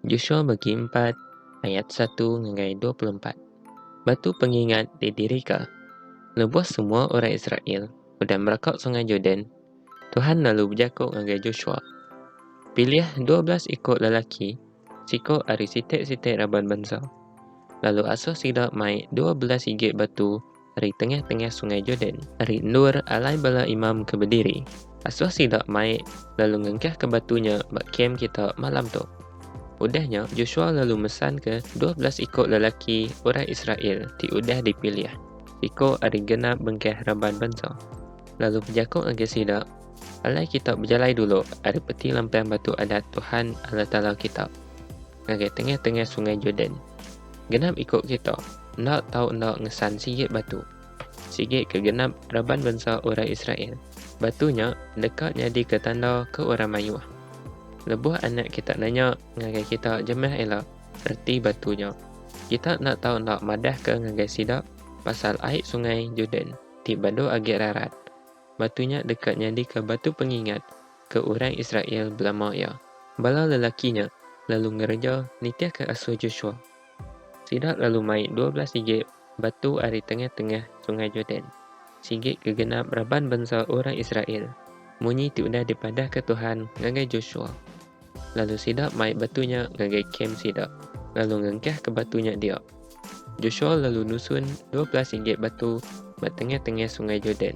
Joshua bagi empat ayat satu ngagai dua puluh empat. Batu pengingat didirika. Lebuh semua orang Israel udah meraka Sungai Jordan, Tuhan lalu bejako ngagai Joshua, Pilih dua belas iko lelaki, siko ari siti-siti raban bansa, lalu asuh sida mai dua belas igi batu ari tengah-tengah Sungai Jordan, ari endur alai bala imam ke bediri, asuh sida mai lalu ngengkahka batu nya ba kem kita malam tu. Udah nya, Joshua lalu mesanka dua belas iku lelaki orang Israel ti udah dipilih, iku ari genap bengkah raban bansa, lalu bejaku ngagai sida, Alai kita bejalai dulu ari peti lampang batu Adat Tuhan, Allah Taala kita. Ngagai tengah-tengah sungai Jordan. Genap iku kita enda tau enda ngesan sigi batu. Sigi ke genap raban bansa orang Israel, batu nya deka nyadika tanda ke orang mayuh. Lebuh anak kita nanya ngagai kita jemah ila reti batu nya, kita enda tau enda madahka ngagai sida pasal ai sungai Jordan ti badu agi rarat. Batu nya deka nyadika batu pengingat ke orang Israel belama iya. Bala lelaki nya lalu ngereja nitihka asuh Joshua. Sida lalu mai dua belas sigi batu ari tengah-tengah Sungai Jordan, sigi ke genap raban bansa orang Israel, munyi ti udah dipadahka Tuhan ngagai Joshua. Lalu sida mai batu nya ngagai kem sida, lalu ngengkahka batu nya dia. Joshua lalu nusun dua belas inggit batu ba tengah-tengah Sungai Jordan,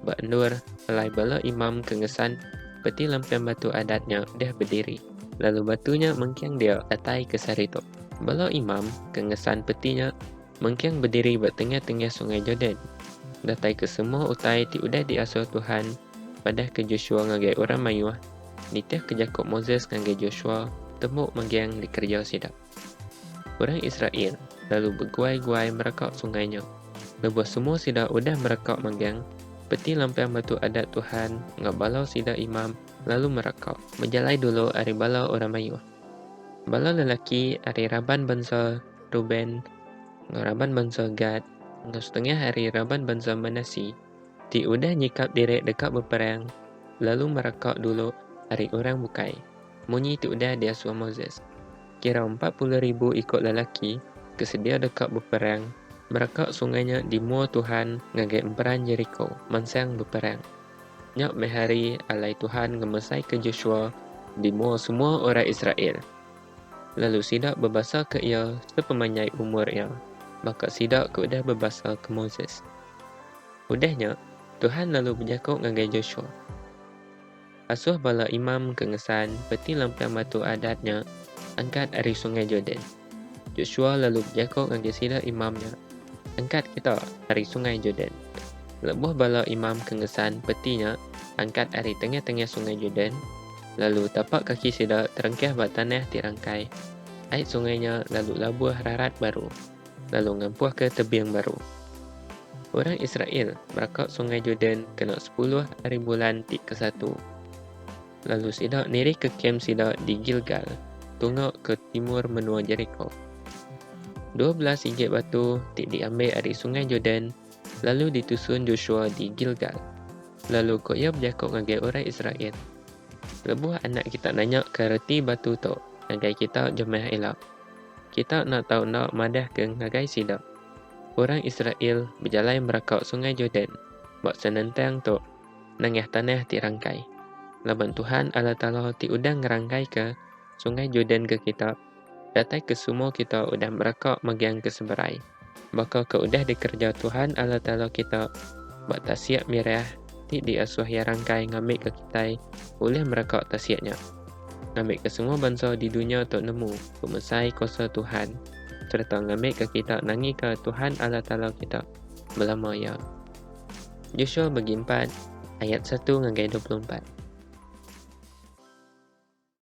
ba endur alai bala imam ke ngesan peti lampiang batu adat nya deh bediri, lalu batu nya mengking dia datai ke sehari tu. Bala imam ke ngesan peti nya mengking bediri ba tengah-tengah Sungai Jordan, datai ke semua utai ti udah diasuh Tuhan madah ke Joshua ngagai orang mayuh, nitih ke jaku Moses ngagai Joshua tembu mengking dikereja sida. Orang Israel lalu beguai-guai mereka sungai nya. Lebuh semua sida udah mereka manggang, peti lampang Batu Adat Tuhan enggau bala sida imam lalu mereka. Bejalai dulu ari bala orang mayuh. Bala lelaki ari raban bansa Reuben enggau raban bansa Gad enggau setengah ari raban bansa Manase. ti udah nyikap diri deka beperang lalu mereka dulu ari orang bukai, munyi ti udah diasuh Moses. Kira empat puluh ribu iku lelaki ke sedia deka beperang mereka sungai nya di mua Tuhan ngagai emperan Jeriko mansang beperang. Nya meh hari alai Tuhan ngemesaika Joshua di mua semua orang Israel, lalu sida bebasaka iya sepemanjai umur iya, baka sida ke udah bebasaka Moses. Udah nya, Tuhan lalu bejaku ngagai Joshua, Asuh bala imam ke ngesan peti lampang batu adat nya angkat ari Sungai Jordan. Joshua lalu bejaku ngagai sida imam nya, Angkat kita ari Sungai Jordan. Lebuh bala imam ke ngesan peti nya angkat ari tengah-tengah Sungai Jordan, lalu tapak kaki sida terengkah ba tanah ti rangkai, ai sungai nya lalu labuh rarat baru. lalu ngampuhka tebing baru. Orang Israel meraka Sungai Jordan kena sepuluh ari bulan ti kesatu, lalu sida nirihka kem sida di Gilgal, tunga ke timur menua Jeriko. Dua belas sigi batu ti diambil ari Sungai Jordan lalu ditusun Joshua di Gilgal, lalu ko iya bejako ngagai orang Israel, Lebuh anak kita nanyaka reti batu tu ngagai kita jemah ila. Kita enda tau enda madahka ngagai sida, Orang Israel bejalai meraka Sungai Jordan ba senentang tu nengah tanah ti rangkai, laban Tuhan Allah Taala ti udah ngerangkaika Sungai Jordan ke kita, datai ke semua kita udah meraka megang ke seberai. baka ke udah dikereja Tuhan Allah Taala kita ba tasik Meriah ti diasuh Iya Rangkai ngambika kitai ulih mereka tasik nya, ngambika semua bansa di dunya tu nemu pemesai kuasa Tuhan sereta ngambika kita nangika Tuhan Allah Taala kita belama iya. Joshua bagi empat ayat satu ngagai dua puluh empat.